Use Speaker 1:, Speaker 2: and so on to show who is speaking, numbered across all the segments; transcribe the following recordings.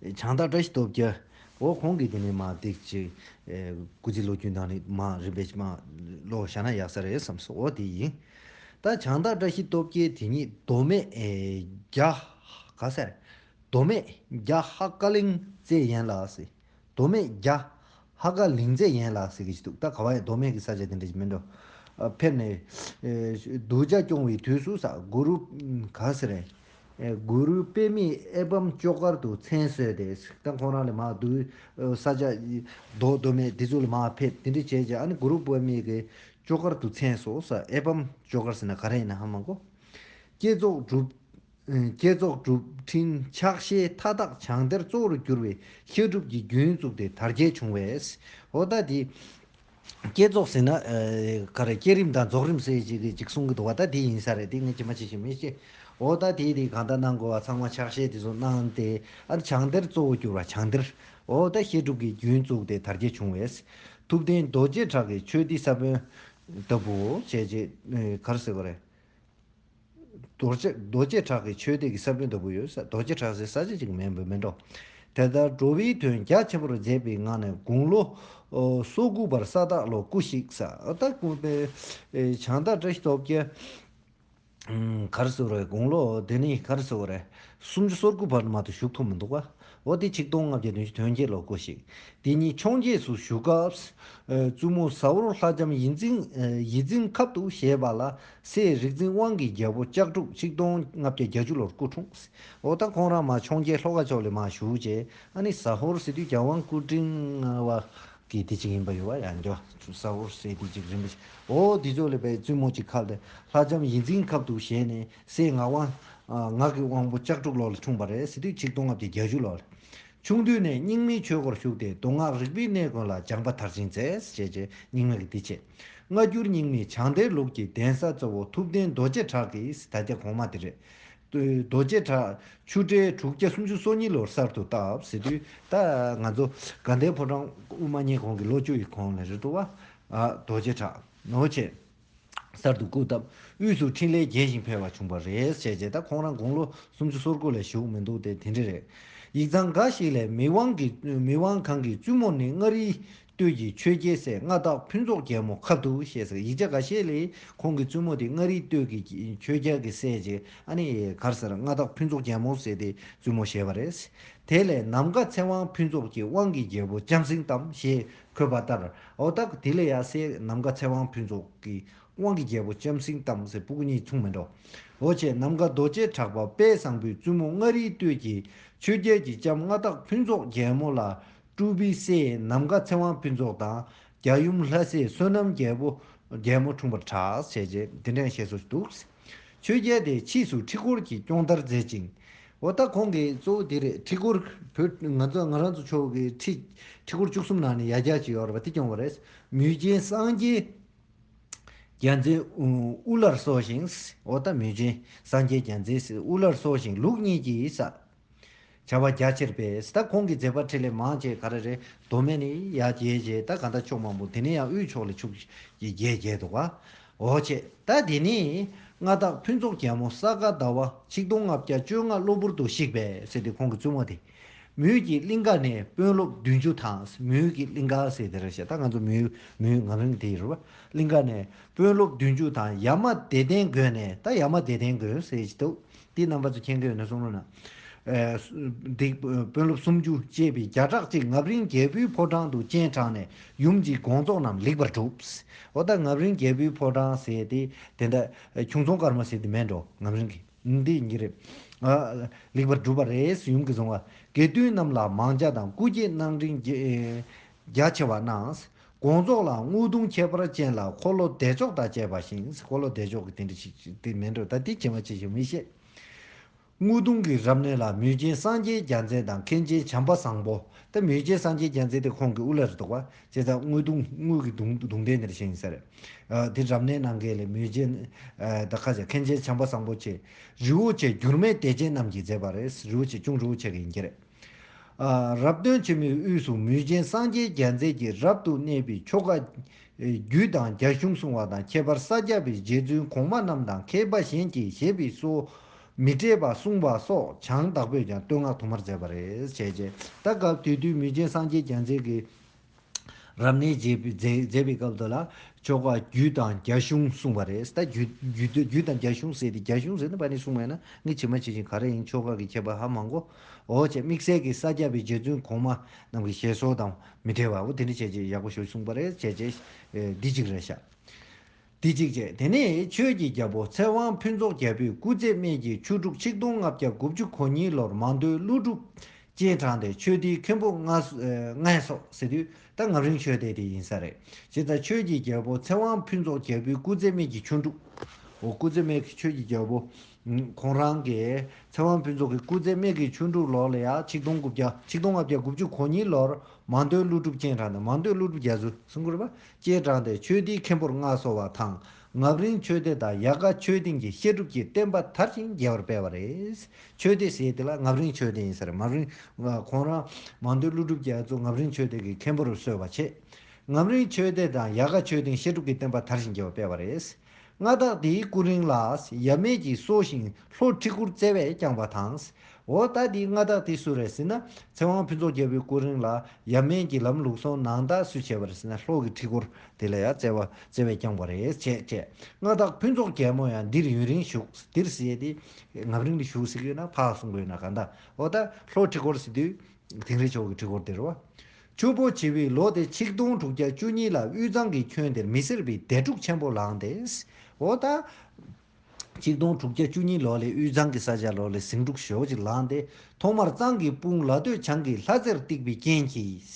Speaker 1: བྱང་བདག་བཀྲ་ཤིས་སྟོབས་རྒྱལ། འོ་གོང་གི་དེ་ནི་མ་བརྡེག་ཅིག། སྐུ་ཚེ་ལོ་རྒྱུས་ནང་ནས་མ་རིམ་པས་མ་ལོ་བཞག་ན་ཡག་ས་རེད་བསམ་སོང་འོ་དེ་ཡིན། ད་བྱང་བདག་བཀྲ་ཤིས་སྟོབས་རྒྱལ་དེ་ཉིད་མདོ་སྨད་རྒྱ། ག་ས་རེད། མདོ་སྨད་རྒྱ་ཧ་ཀ་གླིང་བཙས་ཡན་ལགས་སི། མདོ་སྨད་རྒྱ། ཧ་ག་ལིང་ཚེ་ཡན་ལགས་ཟེར་གྱི་ཞིག་འདུག་ད་ག་བ་ཡ་མདོ་སྨད་ཀྱི་ས་ཆ་དེ་འདྲ་ཞིག་མིན་འགྲོ། ཕེབས་ནས། གདུལ་བྱ་སྐྱོང་བའི་དུས་སུ་ས་གུ་རུ། ག་ཟེར་རེད། གུ་རུའི་དཔེ་མིག་ཨེ་བམ་ལྕོག་དཀར་དུ་མཚན་གསོལ་ཏེ་ད་ཁོང་རང་ལས་མ་གདུལ་བྱ། ས་ཆ། མདོ་མདོ་སྨད་དེ་ཚོ་ལ་མ་ཕེབས་དེ་འདྲ་བྱས་རྗེས་ཨ་ནི་གུ་རུ་དཔེ་མིག་གི་ལྕོག་དཀར་དུ་མཚན་གསོལ་ས་ཨེ་བམ་ལྕོག་དཀར་ཟེར་ན་ག་རེ་ཡིན་ནའང་མ་གོ། བསྐྱེད་རྫོགས་སྒྲུབ། བསྐྱེད་རྫོགས་གྲུབ་ཕྲིན་ཕྱག་བཞེས་མཐའ་དག་བྱང་གཏེར་གཙོ་བོར་གྱུར་བའི་བཤད་སྒྲུབ་ཀྱི་རྒྱུན་བཙུགས་ཏེ་དར་རྒྱས་བྱུང་བས། ཨོ་ད་དེ། བསྐྱེད་རྫོགས་ཟེར་ན། བསྐྱེད་རིམ་དང་རྫོགས་རིམ་སེ་གཅིག་གཅིག་གསུང་གི་འདུག་བ་ད་དེ་ཡིན་ས་རེད་དེ་ངས་ཇི་མ་ཇི་བཞིན་མི་ཤེས། ཨོ་ད་དེ་དེ་གང་ལྟར་གནང་དགོས་བ་ཚང་མ་ཕྱག་བཞེས་དེ་ཚོ་གནང་སྟེ་ཨ་བྱང་གཏེར་གཙོ་བོ་གྱུར་བ་བྱང་གཏེར། ཨོ་ད་བཤད་སྒྲུབ་ཀྱི་རྒྱུན་བཙུགས་ཏེ་དར་རྒྱས་བྱུང་བས། ཐུབ་བསྟན་རྡོ་རྗེ་བྲག་གི་ཆོས་སྡེ་ས་བོན་ལྟ་བུ་བྱས་རྗེས་གར་ཟེར་བ་རེད། རྡོ་རྗེ་བྲག་གི་ཆོས་སྡེ་གྱི་ས་བོན་ལྟ་བུ་ཡོད། རྡོ་རྗེ་བྲག་སེར་ས་ཆ་གཅིག་མིན་པར་མི་འགྲོ། དེ་ལྟར་འགྲོ་བའི་དོན་རྒྱ་ཆེན་པོར་མཛད་པའི་ངང་ནས་དགུང་ལོ་སོ་དགུ་པར་ས་བདག་ལོ་སྐུ་གཤེགས། ས་བདག་སྐུ་བལྟས་བྱང་བདག་བཀྲ་ཤིས་སྟོབས་རྒྱལ། གར་སོལ་བའི་དགུང་ལོ་དེ་ནི་གར་སོལ་བ་རེ་སུམ་ཅུ་སོ་དགུ་བར་མ་དུ་བཞུགས་ཐུབ་མི་འདུག་བ། འོ་དེ་ཆིག་སྟོང་ལྔ་བརྒྱ་བདུན་ཅུ་དོན་བརྒྱད་ལོར་སྐུ་གཤེགས། དེ་ཉིད་འཕྱོངས་རྒྱས་སུ་བཞུགས་སྐབས། བཙུན་མོ་ཟ་བོར་ལྷ་ལྕམ་ཡིད་འཛིན་ཁབ་ཏུ་བཞེས་པ་ལ། སའི་རིག་འཛིན་དབང་གི་རྒྱལ་པོ་ལྕགས་ཕྲུག་གཅིག་སྟོང་ལྔ་བརྒྱ་བརྒྱ་བཅུ་ལོར་སྐུ་འཁྲུངས། འོག་ད་ཁོང་རང་མ་འཕྱོང་རྒྱལ་ཤློ་ཀ་མཆོག་ལས་མ་བཞུགས་རྗེས་ཨ་ནི་ཟ་ཧོར་སེ་དུས་རྒྱལ་དབང་སྐུ་དྲིན་ལྔ་བ་གི་དེ་གཅིག་ཡིན་པ་ཡོད་པ་ཡང་འགྱོ། ཟ་ཧོར་སེ་དུས་གཅིག་རིན་པོ་ཆེ་འོ་དེ་མཆོག་ལས་པའི་བཙུན་མོ་གཅིག་ཁ་ལེ་ལྷ་ལྕམ་ཡིད་འཛིན་ཁབ་ཏུ་བཞེས་ནས་སའི་ངག་དབང། ངག་གི་དབང་པོ་ལྕགས་ཕྲུག་ལོར་ལ་འཁྲུངས་པ་རེད་སེ་དུས་གཅིག་སྟོང་ལྔ་བརྒྱ་བརྒྱ་བཅུ་ལོར། ཆུང་དུས་ནས་རྙིང་མའི་ཆོས་སྒོར་ཞུགས་ཏེ་མདོ་སྔགས་རིག་པའི་གནས་ཀུན་ལ་སྦྱངས་པ་མཐར་ཕྱིན་མཛད། ཞེས་རྗེ་རྙིང་མ་གི་འདི་བྱས། སྔ་འགྱུར་རྙིང་མའི་བྱང་བདེ་ལུགས་ཀྱི་གདན་ས་གཙོ་བོ་ཐུབ་བསྟན་རྡོ་རྗེ་བྲག་གི་ད་རྒྱ་གོང་མ་དེ་རེད། རྡོ་རྗེ་བྲག་ཆུ་སྤྲེལ་དྲུག་བརྒྱ་སུམ་ཅུ་སོ་གཉིས་ལོར་གསར་དུ་བཏབ་ཟེར་དུས་ད་ང་ཚོ་དགའ་ལྡན་ཕོ་བྲང་དབུ་མ་བརྙེས་གོང་གི་ལོ་བཅུ་ཡི་གོང་ལས་རེད་འགྲོ་བ། རྡོ་རྗེ་བྲག་ནོར་བྱས། གསར་དུ་བཀུག་སྟབས་དབུས་སུ་འཕྲིན་ལས་རྒྱས་ཤིང་འཕེལ་བ་བྱུང་བ་རེད་བྱས་རྗེས་ད་ཁོང་རང་དགུང་ལོ་སུམ་ཅུ་སོ་དགུ་ལས་བཞུགས་མི་འདུག་སྟེ་དེ་འདྲ་རེད། ཡིག་ཚང་འགའ་ཞིག་ལས་མི་དབང་གི་མི་དབང་གང་གི་བཙུན་མོ་ནི་མངའ་རིས་སྟོད་ཀྱི་ཆོས་རྒྱལ་སྲས་མངའ་བདག་ཕུན་ཚོགས་རྒྱལ་མོ་ཁབ་ཏུ་ཞེས་ཟེར་ཡིག་ཆ་འགའ་ཤས་ལས་ཁོང་གི་བཙུན་མོ་དེ་མངའ་རིས་སྟོད་ཀྱི་ཆོས་རྒྱལ་གྱི་སྲས་ཀྱི་ཨ་ནེ་ཡི་གར་ཟེར་མངའ་བདག་ཕུན་ཚོགས་རྒྱལ་མོ་ཟེར་ཏེ་བཙུན་མོ་བཞེས་པ་རེད། དེ་ལས་ནམ་མཁའ་ཚེ་དབང་ཕུན་ཚོགས་ཀྱི་དབང་གི་རྒྱལ་པོ་ལྕམ་སྲིང་གཏམ་ཞེས་འཁོད་པ་ལྟར་ཨོ་ད་ཀུ་དེ་ལས་ཡ་སའི་ནམ་མཁའ་ཚེ་དབང་ཕུན་ཚོགས་ཀྱི་དབང་གི་རྒྱལ་པོ་ལྕམ་སྲིང་དམ་སྲི་སྤུག་གཉིས་མཚུངས་མི་འགྲོ་འོ་བྱེད་ནམ་མཁའ་རྡོ་རྗེ་གྲགས་པ་དཔལ་བཟང་པོའི་བཙུན་མོ་མངའ་རིའི་སྟོད་ཀྱི་ཆོས་རྒྱལ་གྱི་ལྕམ་མངའ་བདག་ཕུན་ཚོགས་རྒྱལ་མོ་ལ་སྤྲུལ་པའི་སྲས་ནམ་མཁའ་ཚེ་དབང་ཕུན་ཚོགས་དང་རྒྱ་ཡུམ་ལྷ་སྲས་བསོད་ནམས་རྒྱལ་པོ་རྒྱལ་མོ་འཁྲུངས་པར་གྲགས་ཞེས་རྗེ་འདི་འདྲའི་ཞལ་བསྲོ་ཞིག་འདུག། ཆོས་རྒྱལ་དེས་ཕྱིས་སུ་ཁྲི་སྐོར་གྱི་སྐྱོང་བརྡར་མཛད་ཅིང། འོ་ད་ཁོང་གིས་གཙོ་བོ་དེ་རེད་ཁྲི་སྐོར་བོད་ང་ཚོ་ང་རང་ཚོ་ཕྱོགས་ཀྱི་ཁྲི། ཁྲི་སྐོར་བཅུ་གསུམ་ནང་ནས་ཡ་རྒྱ་ཅིག་ཡོད་རེད་པ་དེ་སྐྱོང་བ་རེད། མུས་རྒྱན་སངས་རྒྱས། རྒྱལ་མཚན་དབུ་བླར་སོགས་ཤིང། འོ་ད་མུས་རྒྱན་སངས་རྒྱས་རྒྱལ་མཚན་དབུ་བླར་སོགས་ཤིང་ལུགས་གཉིས་ཀྱིས་ས་བྱ་བ་རྒྱ་ཆེར་སྤེལ། ད་ཁོང་གི་མཛད་པ་ཁྲི་ལས་མང་བཅས་ག་རེ་རེད། མདོ་སྨད་ནས་ཡར་རྒྱས་རྒྱས་ད་ག་འདྲ་ཕྱོགས་མང་པོ་དེ་ནས་ཡང་དབུས་ཕྱོགས་ལས་ཕྱུག་ཅིག་རྒྱས་རྒྱས་འདུག་ཨ། འོ་བྱས། ད་དེ་ནས་མངའ་བདག་ཕུན་ཚོགས་རྒྱལ་མོ་ས་ག་ཟླ་བ་ཆིག་སྟོང་ལྔ་བརྒྱ་བཅོ་ལྔ་གློ་བུར་དུ་བཤིག་པས་ཟེར་ཏེ་ཁོང་གི་བཙུན་མོ་དེ། མུའུ་ཀྱི་གླིང་ག་ནས་དཔོན་སློབ་བདུན་ཅུ་དང་མུའུ་ཀྱི་གླིང་ག་ཟེར་དེ་ར་ཤ་ད་ང་ཚོ་མུའུ་མུའུ་ང་རང་དེ་རུ་བ་གླིང་ག་ནས་དཔོན་སློབ་བདུན་ཅུ་དང་ཡ་མ་བདེ་ལྡན་དགོན་ནས་ད་ཡ་མ་བདེ་ལྡན་དགོན་ཟེར་གྱི་འདུག་དེའི་རྣམ་པ་ཚོ་མཁྱེན་མཁན་ཡོད་ན་གསུང་རོགས་གནང། སྡིག། དཔོན་སློབ་སུམ་ཅུ་བཅས་པའི་བརྒྱ་ཕྲག་ཅིག་ངབ་རིང་རྒྱལ་པོའི་ཕོ་བྲང་དུ་སྤྱན་དྲངས་ནས་ཡུམ་གྱི་དགོངས་རྫོགས་རྣམས་ལེགས་པར་གྲུབ། འོ་ད་ངབ་རིང་རྒྱལ་པོའི་ཕོ་བྲང་ཟེར་ཏེ་དེ་འདྲ། ཁྱུང་རྫོང་སྐར་མ་ཟེར་དེ་མེད་འགྲོ་ངབ་རིང་གི། འདི་ཡིན་གྱི་རེད། ལེགས་པར་གྲུབ་པ་རེད། ཡུམ་གྱི་གཟུང་བ་དགེ་འདུན་རྣམས་ལ་མང་བྱ་དང་སྐུ་སྐྱེ་གནང། རིང་རྒྱ་ཆེ་བ་རྣམས་དགོངས་རྫོགས་ལ་དངུལ་གདུང་ཁྱད་པར་ཅན་ལ་འཁོར་ལོ་བདེ་མཆོག་དང་བཅས་པ་བཞེངས་སྲིད་འཁོར་ལོ་བདེ་མཆོག་གི་དེ་འདྲ་ཞིག་དེ་མིན་འགྲོ་ད་ལྟའི་བྱེ་མ་ཅི་ཞིག་མི་ཤེས། དངུལ་གདུང་གི་རབ་གནས་ལ་མུས་ཆེན་སངས་རྒྱས་རྒྱ་མཚན་དང་མཁན་ཆེན་བྱམས་པ་བཟང་པོ་སྟེ་མུས་ཆེན་སངས་རྒྱས་རྒྱ་མཚན་དེ་ཁོང་གི་དབུ་བླ་རེ་དོགས་པ་བཅས་ཚ་དངུལ་གདུང་དངུལ་གྱི་གདུང་གདུང་རྟེན་འདིར་བཞེངས་ཟེར། དེ་རབ་གནས་གནང་མཁན་ལས་མུས་ཆེན་དང་ཁ་ཆེ་མཁན་ཆེན་བྱམས་པ་བཟང་པོ་བཅས་རི་བོ་ཆེ་འགྱུར་མེད་བདེ་ཆེན་རྣམས་ཀྱིས་མཛད་པ་རེད་རི་བོ་ཆེ་ཅུང་རི་བོ་ཆེ་གི་ཡིན་གྱི་རེད། རབ་སྟོན་ཆེན་མོའི་དབུས་སུ་མུས་ཅན་སངས་རྒྱས་རྒྱ་མཚན་གྱིས་རབ་ཏུ་གནས་པའི་ཆོ་ག། རྒྱུད་དང་རྒྱ་གཞུང་གསུང་བ་དང་ཁྱད་པར་ས་སྐྱ་པའི་རྗེ་བཙུན་གོང་མ་རྣམས་དང་མཁས་པ་གཞན་གྱིས་བཞེད་པའི་སྲོལ། མི་སྤྲད་པ་གསུང་བ་སོགས་བྱང་བདག་པོས་ཀྱང་བསྟོད་བསྔགས་དུ་མར་མཛད་པ་རེད། ད་སྐབས་དུས་བསྟུན་མུས་ཅན་སངས་རྒྱས་རྒྱ་མཚན་གྱིས། རབ་གནས་མཛད་པའི་སྐབས་དུ་ལ་ཆོ་ག་རྒྱུད་དང་རྒྱ་གཞུང་གསུངས་པ་རེད། ད་རྒྱུད་དང་རྒྱ་གཞུང་ཟེར་ཏེ་རྒྱ་གཞུང་ཟེར་ན་བ་ནི་གསུངས་མེད་ན་ངས་ཇི་མ་ཇི་བཞིན་ག་རེ་ཡིན་ཆོ་ག་གི་ཁྱད་པར་ཧ་མང་གོ། འོ་ཅེ་དམིགས་བསལ་གྱི་ས་སྐྱ་པའི་རྗེ་བཙུན་གོང་མ་རྣམས་ཀྱི་ཞལ་སོགས་དང་མི་འབྲེལ་བ་བོ་དེ་འདྲ་བྱས་རྗེས་ཡག་པོ་ཞུ་གསུངས་པ་རེད་བྱས་རྗེས་འདི་གཅིག་རེད་བྱ། དེ་གཅིག་བྱས་དེ་ནས་ཆོས་ཀྱི་རྒྱལ་པོ་ཚེ་དབང་ཕུན་ཚོགས་རྒྱལ་པོས་སྐུ་ཚེ་སྨད་ཀྱི་ཆུ་དྲུག་ཆིག་སྟོང་ལྔ་བརྒྱ་དགུ་བཅུ་གོ་གཉིས་ལོར་མང་ཐོས་ཀླུ་སྒྲུབ་སྤྱན་དྲངས་ཏེ་ཆོས་སྡེའི་མཁན་པོ་ལྔས་སོགས་སི་ཏུ་ད་ངབ་རིང་ཆོས་སྡེ་དེ་ཡིན་ས་རེད། ཅེས་དང་ཆོས་ཀྱི་རྒྱལ་པོ་ཚེ་དབང་ཕུན་ཚོགས་རྒྱལ་པོས་སྐུ་ཚེ་སྨད་ཀྱི་ཆུ་དྲུག། འོ་སྐུ་ཚེ་སྨད་ཀྱི་ཆོས་ཀྱི་རྒྱལ་པོ། ཁོང་རང་གིས་ཚེ་དབང་ཕུན་ཚོགས་ཀྱི་སྐུ་ཚེ་སྨད་ཀྱི་ཆུ་དྲུག་ལོར་ལ་ཡང་ཆིག་སྟོང་དགུ་བརྒྱ་ཆིག་སྟོང་ལྔ་བརྒྱ་དགུ་བཅུ་གོ་གཉིས་ལོར་མང་ཐོས་ཀླུ་སྒྲུབ་སྤྱན་དྲངས་ཏེ་མང་ཐོས་ཀླུ་སྒྲུབ་རྒྱ་མཚོས་གསུང་བསྐུར་བ་སྐྱེས་དྲངས་ཏེ་ཆོས་སྡེའི་མཁན་པོར་མངའ་གསོལ་བ་དང་ངག་རིང་ཆོས་སྡེ་དང་ཡལ་ག་ཆོས་སྡིངས་ཀྱི་བཤད་སྒྲུབ་ཀྱི་བསྟན་པ་དར་ཞིང་རྒྱས་པར་སྤེལ་བ་རེད། ཆོས་སྡེ་ཞེས་དེ་ལ་ངག་རིང་ཆོས་སྡེ་ཡིན་ཟེར། ངག་རིང། ཁོང་རང། མང་ཐོས་ཀླུ་སྒྲུབ་རྒྱ་མཚོ་ངག་རིང་ཆོས་སྡེ་ཀྱི་མཁན་པོར་གསོལ་བ་བྱས། ངག་རིང་ཆོས་སྡེ་དང་ཡལ་ག་ཆོས་སྡིངས་བཤད་སྒྲུབ་ཀྱི་བསྟན་པ་དར་ཞིང་རྒྱས་པར་སྤེལ་བ་རེད། མངའ་བདག་དེའི་སྐུ་རིང་ལ་ཡབ་མེས་ཀྱིས་གསོ་ཞིང་ལྷོ་ཁྲི་གུར་རྩེ་བས་བསྐྱངས་པ་དང། འོ་ད་དེའི་མངའ་བདག་དེ་སུ་རེད་ཟེར་ན་ཚེ་དབང་ཕུན་ཚོགས་རྒྱལ་པོའི་སྐུ་རིང་ལ་ཡབ་མེས་ཀྱིས་ལམ་ལུགས་སོ་ནང་དག་སུས་བྱས་པ་རེད་ཟེར་ན་ལྷོ་གི་ཁྲི་གུར་དེ་ལ་ཡ་རྩེ་བས་བསྐྱངས་པ་རེད་བྱས་བྱས་མངའ་བདག་ཕུན་ཚོགས་རྒྱལ་མོ་ཡང་འདིར་ཡུན་རིང་བཞུགས་འདིར་བསད་དེ་ངམ་རིང་ལ་བཞུགས་ཟེར་གི་ཡོད་ན་ཕག་གསུང་གི་ཡོད་ན་ག་འདའ་འོ་ད་ལྷོ་ཁྲི་གུར་ཟེར་དུས་དིང་རི་ཕྱོགས་ཀྱི་ཁྲི་གུར་དེར་བ་ཆུ་བོ་བྱི་བའི་ལོ་དེ་ཆིག་སྟོང་དྲུག་བརྒྱ་བཅུ་གཉིས་ལ་དབུས་གཙང་གི་ཁྱོན་དེར་མི་སེར་བའི་སྡེ་འཁྲུག་ཆེན་པོ་ལངས་ཏེ། འོ་ད། ཆིག་སྟོང་དྲུག་བརྒྱ་བཅུ་གཉིས་ལོ་ལས་དབུས་གཙང་གི་ས་ཆ་ལོ་ལས་ཟིང་འཁྲུག་ཞོག་ཅིག་ལངས་ཏེ་ཐོག་མར་གཙང་གི་དཔུང་ལ་སྟོད་བྱང་གི་ལྷ་རྩེར་བཏེགས་པའི་རྐྱེན་གྱིས།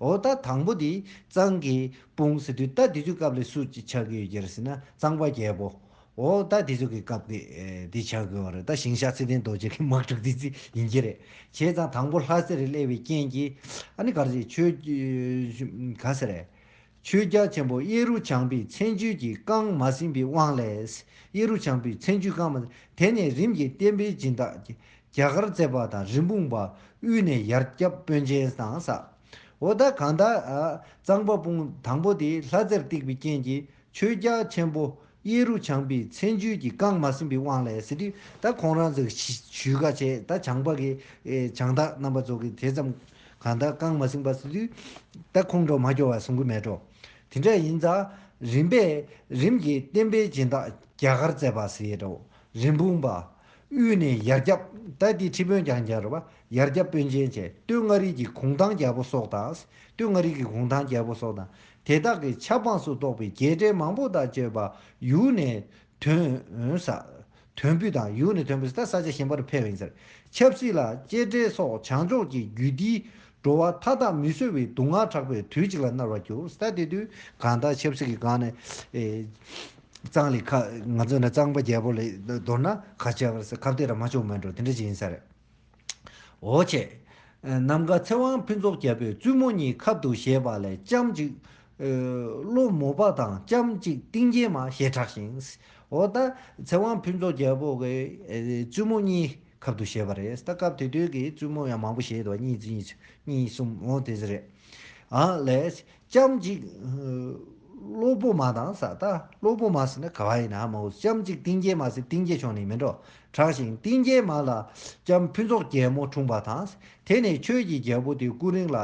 Speaker 1: འོ་ད་དང་པོ་དེ་གཙང་གི་དཔུང་ཟེར་དུས་ལྟ་དེ་དུས་སྐབས་ལས་སུ་ཅི་ཆགས་ཀྱི་ཡོད་ཀྱི་རེད་ཟེར་ན་གཙང་པ་རྒྱལ་པོ། འོ་ད་དེ་ཚོ་གི་སྐབས་ཀི་དེ་བྱ་དགོས་བ་རེད་ད་ཞིང་ཞག་ཚེ་བརྟན་རྡོ་རྗེ་གི་དམག་འཁྲུག་དེ་ཚི་ཡིན་རྒྱུ་རེད་བྱས་ཙང་དང་པོ་ལྷ་སེར་གླེ་བའི་རྐྱེན་གྱི་ཨ་ནི་གར་ཟེར་ཆོས་གང་ཟེར་རེད། ཆོས་རྒྱ་ཆེན་པོ་གཡས་རུ་བྱང་བུའི་མཚན་བརྗོད་ཀྱི་རྐང་མ་ཟིན་པའི་དབང་ལས། གཡས་རུ་བྱང་བུའི་མཚན་བརྗོད་རྐང་མ་དེ་ནས་རིམ་གྱིས་བསྟན་པའི་སྦྱིན་བདག་རྒྱ་གར་བརྩེགས་པ་དང་རིན་སྤུངས་པ་དབུས་ནས་ཡར་སྐྱབས་དཔོན་ཆེན་དང་ས་འོ་ད་གང་ད་གཙང་པ་སྤུངས་དང་པོ་དེ་ལྷ་རྩེར་བཏེགས་པའི་རྐྱེན་གྱི་ཆོས་རྒྱ་ཆེན་པོ་གཡས་རུ་བྱང་པའི་མཚན་བརྗོད་ཀྱིས་བཀང་མ་ཟིན་པའི་དབང་ལས་ཟེར་དུས་ད་ཁོང་རང་ཚོས་ཞུས་ཀ་བྱས་ད་བྱང་པ་གི་བྱང་བདག་རྣམ་པ་ཚོ་གིས་དེ་ཙམ་གང་ད་བཀང་མ་ཟིན་པ་ཟེར་དུས་ད་ཁོང་ཁྲོ་མ་སྐྱོ་བ་གསུང་གི་མེད་འགྲོ། དེ་འདྲ་ཡིན་ཙང་རིམ་པས་རིམ་གྱིས་བསྟན་པའི་སྦྱིན་བདག་རྒྱ་གར་བཙས་པ་ཟེར་རོ། རིན་སྤུངས་པ། དབུས་ནས་ཡར་རྒྱབ་ད་དེའི་ཁྲི་དཔོན་ཀྱང་རྒྱལ་རོ་བ་ཡར་རྒྱབ་དཔོན་ཆེན་བཅས་སྟོད་མངའ་རིས་ཀྱི་གུང་ཐང་རྒྱལ་པོ་སོགས་དང། སྟོད་མངའ་རིས་ཀྱི་གུང་ཐང་རྒྱལ་པོ་སོགས་དང། དེ་དག་གི་ཆབ་འབངས་སུ་གཏོགས་པའི་རྒྱལ་གྲལ་མང་པོ་དག་བཅོས་པ་ཡུལ་ནས་དོན། ས། དོན་པུས་དང་ཡུལ་ནས་དོན་པུས་དང་ས་ཆ་གཞན་པར་འཕེལ་བའི་མཛེར། ཆབ་སྲིད་ལ་གཅེས་སྤྲས་སོགས་བྱང་ཕྱོགས་ཀྱི་རྒྱུད་འདིའི་བྲོ་བ་མཐའ་དག་མི་བཟོད་པའི་དུག་ལྔ་དྲག་པོས་དུས་གཅིག་ལ་མནར་བར་གྱུར། ས། དེ་དུས་གང་དག་ཆབ་སྲིད་ཀྱི་སྒང་ནས། གཙང་ལེགས། ང་ཚོ་ནི་གཙང་པ་རྒྱལ་པོ་ལས་མདོར་ན། ག་ཆབ། གབ་སྟེགས་ར་མ་ཅུང་མོད་འགྲོ་དེ་འདྲ་ཅིག་ཡིན་ས་རེད། ཨོ་ཆེ། ནམ་མཁའ་ཚེ་དབང་ཕུན་ཚོགས་རྒྱལ་པོས་བཙུན་མོ་གཉིས་ཁབ་ཏུ་བཞེས་པ་ལས་ལྕམ་གཅིག། ཀླུ་མོ་པ་དང་ལྕམ་གཅིག་ཏིང་འགྱེད་མ་ཞེས་གྲགས་ཤིང། ཨོ་ད། ཚེ་དབང་ཕུན་ཚོགས་རྒྱལ་པོ་གིས་བཙུན་མོ་གཉིས་ཁབ་ཏུ་བཞེས་པ་རེད། ད་སྐབས་དེ་དུས་ཀྱི་བཙུན་མོ་ཡང་མང་པོ་བཞེས་འདུག་གཉིས་གཉིས་གསུམ་གཉིས་གསུམ་ཨོ་དེ་ཚོ་རེད། ཨ་ལས། ལྕམ་ཅིག། སློབ་བུ་མ་དང་ས་ད། སློབ་བུ་མ་ཟེར་ན་ག་བ་ཡིན་ནམ་མོ། ལྕམ་ཅིག་ཏིང་རྒྱལ་མ་ཟེར་ཏིང་རྒྱལ་ཆོག་ནི་མི་འགྲོ། གྲགས་ཤིང་ཏིང་རྒྱལ་མ་ལ། ལྕམ་ཕུན་ཚོགས་རྒྱལ་མོ་འཁྲུངས་པ་དང། དེ་ནས་ཁྱོད་ཀྱི་རྒྱལ་པོ་དེ་སྐུ་རིང་ལ།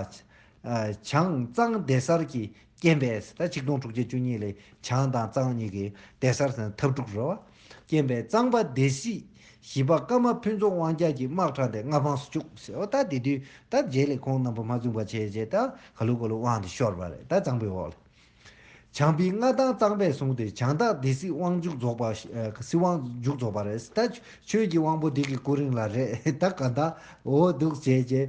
Speaker 1: བྱང་གཙང་སྡེ་གསར་གྱི་སྐྱེན་པས་ས་ད་ཆིག་སྟོང་དྲུག་བརྒྱ་བཅུ་གཉིས་ལས་བྱང་དང་གཙང་གཉིས་ཀྱི་སྡེ་གསར་ས་ན་འཐབ་འཁྲུག་རོལ་བ། རྐྱེན་པས་གཙང་པ་སྡེ་སྲིད་བཞི་པ་ཀརྨ་ཕུན་ཚོགས་དབང་རྒྱལ་གྱིས་དམག་དྲངས་ཏེ་མངའ་འཕངས་སུ་བཅུག་ཟེར་བ་ལྟར་དེ་དུས་དར་རྒྱས་ལས་ཁོང་རྣམ་པ་མ་བཙུན་པར་བྱས་རྗེས་ད་ག་ལུག་ག་ལུག་དབང་དེ་ཤོར་བ་རེད་ད་གཙང་པོའི་འོག་ལས། བྱང་པའི་མངའ་ཐང་གཙང་པས་བཟུང་སྟེ་བྱང་སྟག་སྡེ་སྲིད་དབང་མཇུག་རྫོགས་པ་སྲིད་དབང་མཇུག་རྫོགས་པ་རེད་ད་ཆོས་ཀྱི་དབང་པོ་འདི་གི་སྐུ་རིང་ལ་རེད་ད་ག་ད་འོ་འདུག་བྱས་རྗེས།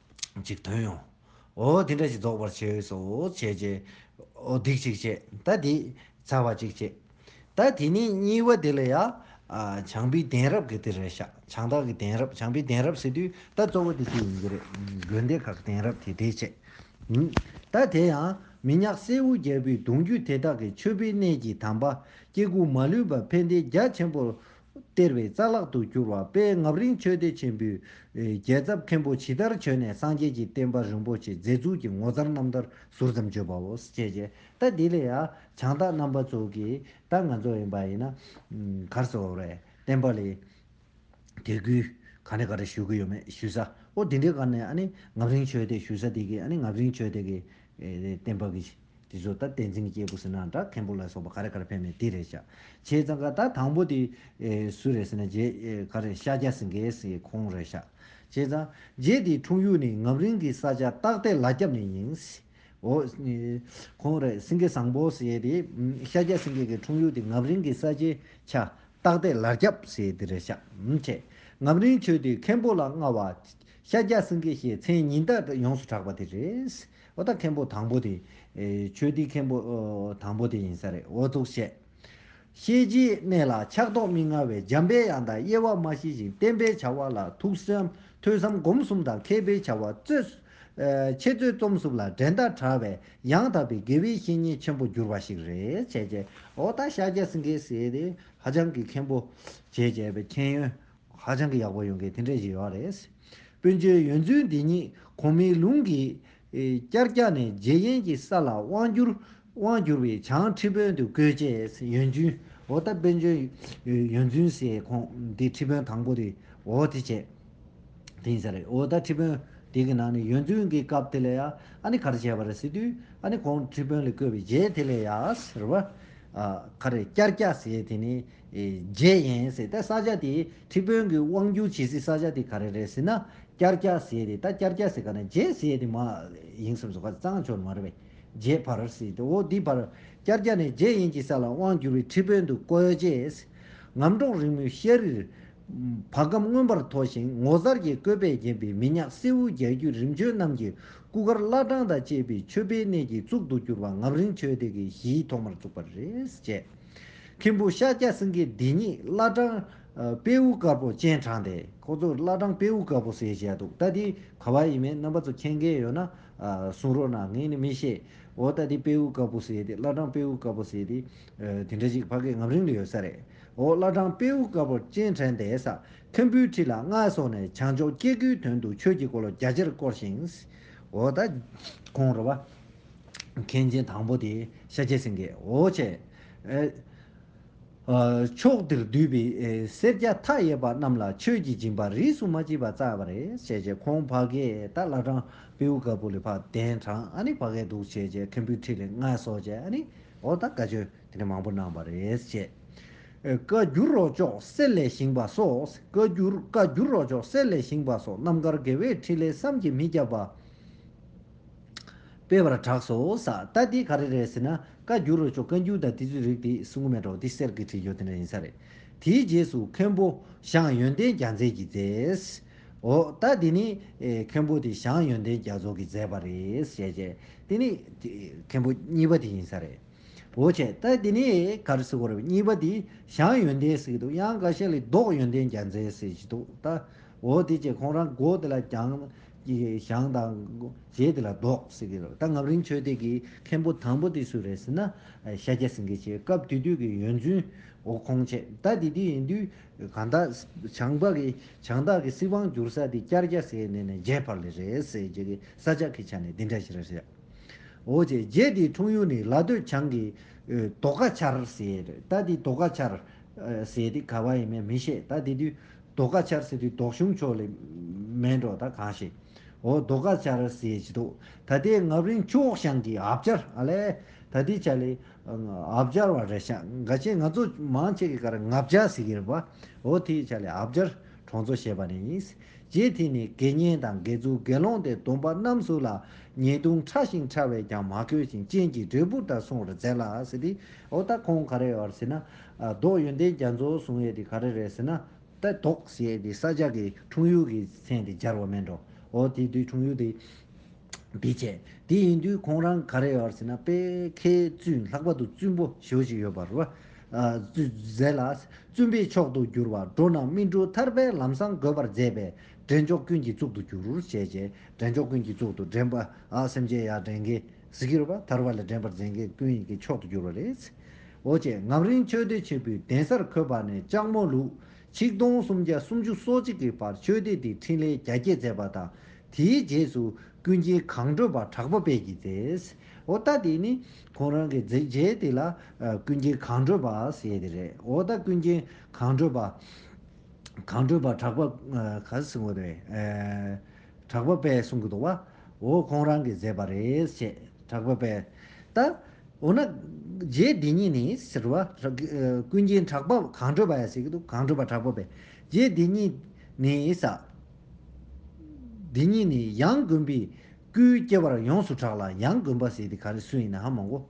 Speaker 1: ཅིག་དོན་ཡོང། འོ་དེ་འདྲ་ཞིག་རྫོགས་པར་བྱས་འོས་སོ་བྱས་བྱས། འོ་སྡིག་ཅིག་བྱས་ད་དེ། ཚར་བ་ཅིག་བྱས། ད་དེ་ནས་གཉིས་པ་དེ་ལ་ཡ། བྱང་པའི་གདན་རབས་ཀྱི་དེ་རེད་ཤག་བྱང་བདག་གི་གདན་རབས་བྱང་པའི་གདན་རབས་ཟེར་དུས་ད་གཙོ་བོ་དེ་དེ་ཡིན་གྱི་རེད། དགོན་སྡེ་ཁག་གདན་རབས་དེ་དེ་བྱས། ད་དེ་ཡང། མི་ཉག་གསེར་འུ་རྒྱལ་པོའི་གདུང་རྒྱུད་དེ་དག་གི་མཆོད་པའི་གནས་ཀྱི་དམ་པ། སྐྱེ་དགུ་མ་ལུས་པ་ཕན་བདེའི་རྒྱ་ཆེན་པོར། སྟེར་བའི་རྩ་ལག་ཏུ་གྱུར་བ་དཔལ་ངབ་རིན་ཆོས་སྡེ་ཆེན་པོའི་རྒྱལ་ཚབ་མཁན་པོ་ཇི་ལྟར་བྱོན་ནས་སངས་རྒྱས་ཀྱི་བསྟན་པ་རིན་པོ་ཆེ་མཛེས་ཚུལ་གྱི་ངོ་མཚར་རྣམ་ཐར་ཟུར་ཙམ་བརྗོད་པའོ། ཅེས་བྱས། ད་འདི་ལས་ཡང་བྱང་བདག་རྣམ་པ་ཚོ་གིས་ད་ང་ཚོ་ཡིན་པ་ཡིན་ན། གར་སོ་རེད་བསྟན་པ་ལས། དད་གུས་ག་ནས་ག་རེ་ཞུ་གི་ཡོད་མེད་ཞུས་ས་ཨོ་དེ་འདྲའི་གར་ནས་ཨ་ནི་ངབ་རིན་ཆོས་སྡེ་ཞུས་ས་དེ་གིས་ཨ་ནི་ངབ་རིན་ཆོས་སྡེ་གི་བསྟན་པ་གིས། དེ་ཚོ་ད་བསྟན་འཛིན་གྱི་སྐྱེས་བུ་ཟེར་ནའང་འདྲ་མཁན་པོ་ལ་སོགས་པ་ག་རེ་ག་རེ་ཕེབས་ནས་དེ་རེད་བྱ། བྱས་ཙང་ཀ་ད་དང་པོ་དེ། སུ་རེད་ཟེར་ན་རྗེ། ག་རེ་ཤཱཀྱ་སིངྒེའི་སྲས་ཁོང་རེད་བྱ། བྱས་ཙང། རྗེ་དེའི་འཁྲུངས་ཡུལ་ནི་ངམ་རིང་གི་ས་ཆ་སྟག་རྟའི་ལ་རྒྱབ་ནས་ཡིན། འོ། ཁོང་རེད་སིངྒེ་བཟང་པོ་ཟེར་དེ། ཤཱཀྱ་སིངྒེ་གི་འཁྲུངས་ཡུལ་དེ་ངམ་རིང་གི་ས་ཆའི་ཆ། སྟག་རྟའི་ལ་རྒྱབ་ཟེར་དེ་རེད་བྱ། བྱས། ངམ་རིང་ཆོས་དེའི་མཁན་པོ་ལ་མངའ་བ། ཤཱཀྱ་སིངྒེ་ཞེས་མཚན་ཉིད་ད་ཡོངས་སུ་གྲགས་པ་དེ་རེད། ཨོ་ད་མཁན་པོ་དང་པོ་དེ། ཆོས་འདིའི་མཁན་པོ། དང་པོ་དེ་ཡིན་ས་རེད་ཨོ་ཙུག་བཤད། ཤེས་བྱའི་གནས་ལ་ཆགས་ཐོགས་མི་མངའ་བའི་འཇམ་དཔལ་ཡང་དག་དབྱེ་བ་མ་ཤེས་ཤིང་བསྟན་པའི་བྱ་བ་ལ་ཐུགས་བསམ་ཐོས་བསམ་སྒོམ་གསུམ་དང་མཁས་པའི་བྱ་བ་རྩོད། འཆད་རྩོད་རྩོམ་གསུམ་ལ་འགྲན་ཟླ་དྲགས་བས་ཡང་དག་པའི་དགེ་བའི་བཤེས་གཉེན་ཆེན་པོ་གྱུར་པ་ཞིག་རེད་བྱས། ཨོ་ད་ཤཱཀྱ་སེང་གེ་སྲས་དེ་ཧ་ཅང་གི་མཁན་པོ། བྱས་བྱས་པའི་མཁྱེན་ཡོན་ཧ་ཅང་གི་ཡག་པོ་ཡོང་གི་དེ་འདྲས་ཞིག་ཡོད་རེད། སྤུན་ཆོས་ཡོན་རྫུན་འདི་ཉིད་གོང་མའི་ལུང་གིས། བསྐྱར་བསྐྱར་ནས་རྗེ་ཡན་གྱི་ས་ལ་དབང་བསྒྱུར། དབང་བསྒྱུར་བའི་བྱང་ཁྲི་དཔོན་དུ་བསྐོས་རྗེས་ཡོན་རྫུན། འོ་ད་སྤུན་ཆོས་ཡོན་རྫུན་ཟེར་ཁོང་འདི་ཁྲི་དཔོན་དང་པོ་རེད་འོ་དེ་བྱས། དེ་ཡིན་ས་རེད་འོ་ད་ཁྲི་དཔོན་དེ་གི་ནང་ནས་ཡོན་རྫུན་གི་སྐབས་དེ་ལ་ཡ་ཨ་ནི་ག་རེ་བྱས་པ་རེད་ཟེར་དུས་ཨ་ནི་གོང་ཁྲི་དཔོན་ལ་བསྐོས་པའི་རྗེས་དེ་ལས་ཡ་ཨ་ཟེར་བ། ཨ་ཁ་རེ་བསྐྱར་བསྐྱར་ཟེར་དེ་ནི། བརྗེད་ཡེངས་ཟེར་ད་ས་ཆ་དེ་ཁྲི་དཔོན་གི་དབང་བསྒྱུར་བྱེད་སའི་ས་ཆ་དེ་ག་རེ་རེད་ཟེར་ན་སྐྱར་སྐྱ་ཟེར་ཏེ་ད་སྐྱར་སྐྱ་ཟེར་ག་ན་བརྗེད་ཟེར་ཡས་དེ་མ་ཡེངས་སམ་ཟོ་ག་གཙང་ཆོར་མ་རེད་པས་བརྗེད་བར་ཟེར་ཏེ་འོ་འདི་བར་སྐྱར་སྐྱ་ནས་བརྗེད་ཡེངས་ཀྱི་ས་ལ་དབང་བསྒྱུར་བའི་ཁྲི་དཔོན་དུ་བསྐོས་རྗེས། ངམ་གྲོག་རིང་མོའི་ཤར་རིར། བ་གམ་མངོན་པར་མཐོ་ཞིང་ངོ་མཚར་གྱི་བཀོད་པས་བརྒྱན་པའི་མི་ཉག་སེའུ་རྒྱལ་རྒྱུད་རིམ་བྱོན་རྣམས་ཀྱི་སྐུ་མཁར་བླ་བྲང་དང་བཅས་པའི་མཆོད་པའི་གནས་ཀྱི་གཙུག་ཏུ་གྱུར་པ་ངམ་རིང་ཆོས་སྡེ་གྱི་གཞིའི་ཐོག་མར་བཙུགས་པ་རེད། མཁན་པོ་ཤཱཀྱ་སེང་གེའི་སྡེ་གཉིས་བླ་བྲང། དཔེའུ་དཀར་པོ་སྤྱན་དྲངས་ཏེ་ཁོ་ཚོ་བླ་བྲང་དཔེའུ་དཀར་པོ་ཟེར་བཞག་འདུག་ད་དེ་ག་བ་ཡིན་མིན་རྣམ་པ་ཚོ་མཁྱེན་མཁན་ཡོད་ན་གསུང་རོགས་གནང་ངས་ནི་མི་ཤེས་འོ་ད་དེ་དཔེའུ་དཀར་པོ་ཟེར་དེ་བླ་བྲང་དཔེའུ་དཀར་པོ་ཟེར་དེ་དེ་འདྲ་ཞིག་ཕ་སྐད་ངམ་རིང་ལ་ཡོད་ས་རེད་འོ་བླ་བྲང་དཔེའུ་དཀར་པོ་སྤྱན་དྲངས་ཏེ་ས་ཁམ་བུའི་ཁྲི་ལ་མངའ་སོགས་ནས་བྱང་ཕྱོགས་སྐྱེ་དགུའི་དོན་དུ་ཆོས་ཀྱི་འཁོར་ལོ་རྒྱ་ཆེར་བསྐོར་ཞིང། འོ་ད་ཁོང་ར་བ། མཁན་ཆེན་དང་པོ་དེ་ཤཱ་ཀྱའི་སེང་གེའོ། ཅེས་པའོ། ཕྱོགས་འདིར་འདུས་པའི་སེར་སྐྱ་མཐའ་ཡས་པ་རྣམས་ལ་ཆོས་ཀྱི་སྦྱིན་པ་རིས་སུ་མ་མཆིས་པ་བསྩལ་བ་རེད། ཞེས་བྱས་ཁོང་བྷ་གའི་རྟ་བླ་བྲང་པེའུ་དཀར་པོ་ལས་བྷ་གདན་དྲངས་ཨ་ནི་བྷ་གའི་གདུགས་བྱས་བཅས་མཁན་པོའི་ཁྲི་ལས་མངའ་གསོལ་བཅས་ཨ་ནི་ཨོ་ད་ག་ཆོས་དེ་ནས་མང་པོ་གནང་བ་རེད། ཅེས་བཀའ་འགྱུར་རོ་ཅོག་གསེར་ལས་བཞེངས་པ་སོགས་བཀའ་འགྱུར་བཀའ་འགྱུར་རོ་ཅོག་གསེར་ལས་བཞེངས་པ་སོགས་རྣམ་དཀར་དགེ་བས་འཕྲིན་ལས་བསམ་གྱིས་མི་ཁྱབ་པ། སྤེལ་བར་གྲགས་སོ། ས་ལྟ་དེ་ག་རེ་རེད་ཟེར་ན་བཀའ་འགྱུར་རོ་ཅོག་བཀའ་འགྱུར་དང་དེ་ཚོའི་རིགས་དེ་གསུང་གི་མེད་འགྲོ་དེ་གསེར་གྱི་ཁྲི་ཡོད་དེ་འདྲ་ཡིན་ས་རེད། དེའི་རྗེས་སུ་མཁན་པོ་ཞང་ཡོན་ཏན་རྒྱ་མཚན་གྱིས་མཛད། འོ་ད་དེ་ནི་མཁན་པོ་དེ་ཞང་ཡོན་ཏན་རྒྱ་མཚོ་གིས་མཛད་པ་རེད་ཞེས་བཤད། དེ་ནི་མཁན་པོ་གཉིས་པ་དེ་ཡིན་ས་རེད། འོ་ཁྱེད་ལྟ་དེ་ནི་ག་རེ་ཟེར་བ་རེད་གཉིས་པ་དེ་ཞང་ཡོན་ཏན་ཟེར་གྱི་འདུག་ཡང་འགའ་ཤས་ལས་བཟློག་ཡོན་ཏན་རྒྱ་མཚན་ཟེར་གྱི་འདུག་ད་འོ་དེ་ཅེས་ཁོང་རང་མགོ་དེ་ལ་བརྒྱངས། ཀྱི་ཞང་དང། རྗེ་དེ་ལ་བཟློག། ཟེར་གྱི་རོ། ད་ངམ་རིང་ཆོས་སྡེ་གི་མཁན་པོ་དང་པོ་དེ་སུ་རེད་ཟེར་ན། ཤཱཀྱ་སེངྒེ་ཆེ་སྐབས་དེ་དུས་ཀྱི་ཡོན་བཙུན། འོ་ཁོང་ཆེ་ད་དེ་དུས་ཡིན་དུས། གང་ད། བྱང་བ་གི། བྱང་བདག་གི་སྲིད་དབང་བསྒྱུར་ས་དེ་སྐྱར་རྒྱ་ཟས་ནས་ནས་རྒྱས་འཕར་ལེ་རེད་ཟེར་རྗེ་གི་ས་ཆག་གི་ཆ་ནས་དེ་འདྲ་ཞིག་རེད་ཟེར། འོ་ཆེ་རྗེ་དེའི་འཁྲུངས་ཡུལ་ནི་ལ་སྟོད་བྱང་གི། དོ་ཀ་ཆར་ཟེར། ད་དེ་དོ་ཀ་ཆར། ཟེར་དེ་ག་བ་ཡིན་མིན་མི་ཤེས་ད་དེ་དུས། རྡོ་ཀ་ཆར་ཟེར་དུས་དོག་གཞུང་ཕྱོགས་ལས་མེད་འགྲོ་ད་གང་ཞིག་འོ་རྡོ་ཀ་ཆར་ཟེར་གྱི་འདུག་ད་ལྟའི་ངབ་རིང་ཁྱོག་ཤང་གི་ཨབ་ཅར་ཨ་ལས་ད་ལྟའི་ཆ་ལས་ཨབ་ཅར་བ་རེད་ཤག་འགའ་ཤས་ང་ཚོ་མང་ཆེ་གི་ཀར་ངབ་ཅར་ཟེར་གྱི་རེད་པ་འོ་དེའི་ཆ་ལས་ཨབ་ཅར་གྲོང་ཚོ་ཞེས་པ་ནས་ཡིན་རྗེས་དེ་ནས་དགེ་བསྙེན་དང་དགེ་ཚུལ་དགེ་སློང་དེ་སྡོམ་པ་རྣམས་སུ་ལ་ཉེས་ལྟུང་ཕྲ་ཞིང་ཕྲ་བས་ཀྱང་མ་གོས་ཤིང་རྐྱེན་གྱིས་འབྲས་བུར་ད་སོང་རུ་འཛད་ལགས་ཟེར་དུས་འོ་ད་ཁོང་ག་རེ་བར་ཟེར་ན་ལྡོག་ཡོན་ཏན་རྒྱ་མཚོ་བཟུང་ཡས་དེ་ག་རེ་རེད་ཟེར་ན། ལྟ་ལྡོག་ཞེས་དེ་ས་ཆ་གི་འཁྲུངས་ཡུལ་གྱི་མཚན་དེ་སྦྱར་བ་སྨྲས་འགྲོ་འོ་དེ་དུས་འཁྲུངས་ཡུལ་དེ་འདི་བྱས་དེ་ཡིན་དུས་ཁོང་རང་ག་རེ་ཡོད་ཟེར་ན་དཔལ་ཁའི་བཙུན་ལྷག་པ་དུ་བཙུན་པོ་ཞོ་ཞིག་ཡོད་པར། མཛད་ལ། བཙུན་པའི་མཆོག་ཏུ་གྱུར་བ་འགྲོ་རྣམས་སྨིན་དྲུག་ཐར་པའི་ལམ་བཟང་དགོད་པར་མཛད་པས་འདྲེན་མཆོག་ཀུན་གྱི་གཙུག་ཏུ་གྱུར། བྱས་རྗེས་འདྲེན་མཆོག་ཀུན་གྱི་གཙུག་ཏུ་འདྲེན་པ་སེམས་ཅན་ཡར་འདྲེན་གྱི། གཟི་གུར་བ་དར་བ་ལ་འགྲན་པར་འཛེག་མཁན་ཀུན་ཡིད་ཀྱི་མཆོག་ཏུ་གྱུར་བ་རེད། འོ་ཅེ་ངམ་རིང་ཆོས་སྡེ་ཆེན་པོའི་གདན་སར་འཁོད་པ་ནས་ལྕགས་མོ་ལུག་ཆིག་སྟོང་སུམ་བརྒྱ་སུམ་ཅུ་སོ་གཅིག་གི་བར་ཆོས་སྡེ་འདིའི་འཕྲིན་ལས་རྒྱ་སྐྱེད་མཛད་པ་དང་དེའི་རྗེས་སུ་ཀུན་མཁྱེན་གངས་སྒྲོལ་པ་གྲགས་པ་དཔལ་གྱིས་མཛད། འོ་ད་དེ་ནི་ཁོང་རང་གི་མཛད་རྗེས་དེ་ལ་ཀུན་མཁྱེན་གངས་སྒྲོལ་པ་ཞེས་དེ་རེད། འོ་ད་ཀུན་མཁྱེན་གངས་སྒྲོལ་པ། གངས་སྒྲོལ་པ་གྲགས་པ། གྲགས་པ་པས་གསུང་གི་འདུག་བ། འོ་ཁོང་རང་གིས་མཛད་པ་རེད་ཅེས་གྲགས་པ་པས་བལྟ། འོ་ན། རྗེ་འདི་ཉིད་ནི་ཟེར་བ། ཀུན་མཁྱེན་གྲགས་པ་གང་བགྲོས་པ་ཡང་ཟེར་གྱི་འདུག་གང་བགྲོས་པ་གྲགས་པ་པས་རྗེ་འདི་ཉིད་ནི་ཟ། འདི་ཉིད་ནི་ཡང་དགོན་པའི་སྐུའི་སྐྱེ་བར་ཡོངས་སུ་གྲགས་ལ་ཡང་དགོན་པ་ཟེར་དེ་ག་རེ་སུ་ཡིན་ནའང་མང་གོ།